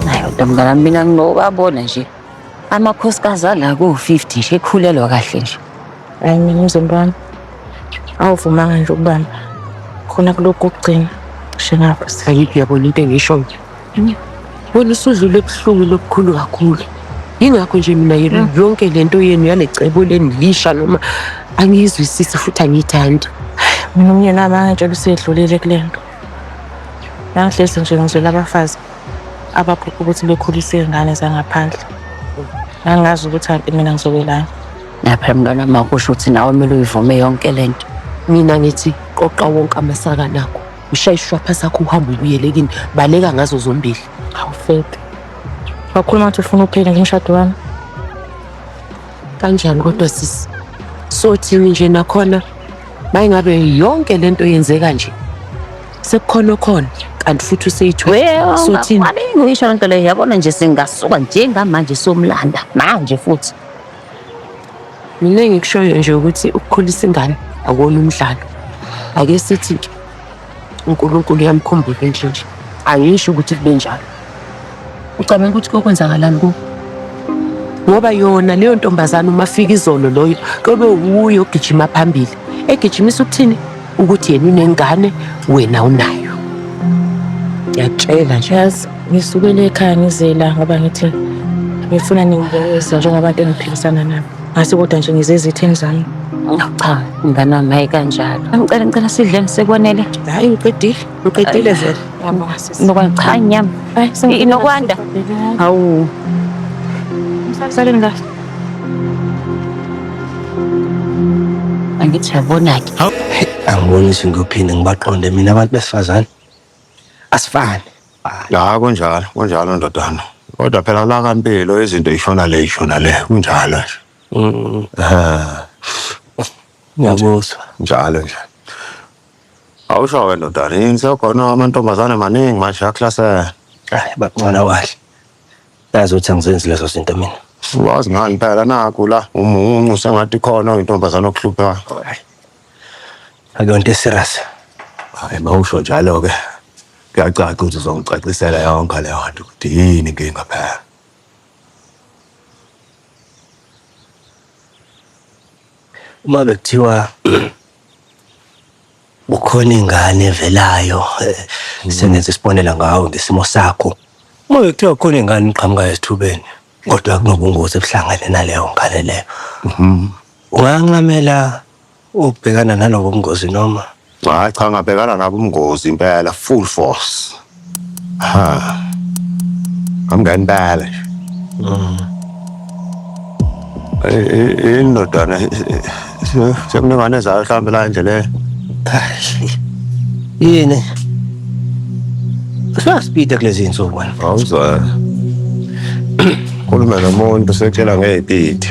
Hayi kodwa mntana mina ngingowabona nje amakhosikazi ala ko-50 nje ekhulelwa kahle nje Hayi mina umzimba wami awuvumanga nje ukubamba khona kulokhu kokugcina kushe ngapho. ayikho yabona into engishoyo wena usudlule ebuhlungu lobukhulu kakhulu yingakho nje mina yena yonke le nto yenu yale cebo lenilisha noma angiyizwisisi futhi angiyithandi Mina umyeni wami angitshela usedlulile kule nto. Nangihlezi nje ngizwela abafazi abaphupha ukuthi bekhulise iy'ngane zangaphandle ngangazi ukuthi kanti mina ngizokwelana lapha mntwana makusho ukuthi nawe kumele uyivume yonke le nto mina ngithi qoqa wonke amasaka nakho ushaye isishwapha sakho uhambe ubuyele kini baleka ngazo zombili awufede wakhuluma ukuthi ufuna uphele ngomshado wami kanjani kodwa sisi sothini nje nakhona Mayingabe yonke lento yenzeka nje. Sekukhona okhona kanti futhi useyithola. Sothini? Ngisho lento leyo yabona nje singasuka njengamanje somlanda manje futhi. Mina engikushoyo nje ukuthi ukukhulisa ingane akuwona umdlalo. Ake sithi uNkulunkulu uyamkhumbuza inhliziyo angisho ukuthi kube njalo ucabanga ukuthi kokwenzakalani ku ngoba yona leyo ntombazane uma fika izolo loyo kobe wuyo ogijima phambili egijimisa ukuthini ukuthi yena unengane wena unayo ngiyatshela nje yazi ngisukele ekhaya ngizela ngoba ngithi ngifuna ningibuza njengabantu engiphikisana nabo Ngase kodwa nje ngize ezitheni zami. Cha, mngane wami hayi kanjalo. Ngicela ngicela sidleni sekwanele. Hayi uqedile, uqedile vele. Yabonga sisi. Nokwanda cha inyama. Hayi sengi- Inokwanda. Hawu. Msaleni kahle. Angithi yabona-ke. Angiboni ukuthi ngiyophinde ngibaqonde mina abantu besifazane. asifani la kunjalo kunjalo ndodana kodwa phela la kampilo izinto ishona le ishona le kunjalo nje Mm, Ah, ngiyakuzwa njalo nje awusho ke ndodana yini sekhona amantombazane maningi manje aklasela hayi bancona kahle yazi ukuthi angizenzi lezo zinto mina wazi ngani phela naku la umuncu sengathi khona intombazane okuhluphayo akuyonto eserious hayi mawusho njalo-ke kuyacaca ukuthi uzongicacisela yonke leyo nto ukuthi yini inkinga phela uma bekuthiwa ukhona ingane evelayo eh, sengenza isibonela ngawe ngesimo sakho uma bekuthiwa khona ingane iqhamukayo esithubeni kodwa kunobungozi ebuhlangene naleyo ngane leyo mhm. ungancamela ukubhekana nalobo bungozi noma hayi cha ngabhekana nabo ubungozi impela full force ha amngempela nje mm. eh, eh, eh, indodana Sekunengane ezayo mhlawumbe la endleleni. Yini? Sasipita kulezi insuku wena. Awuzwa. Khuluma nomuntu sekutshela ngeyipiti.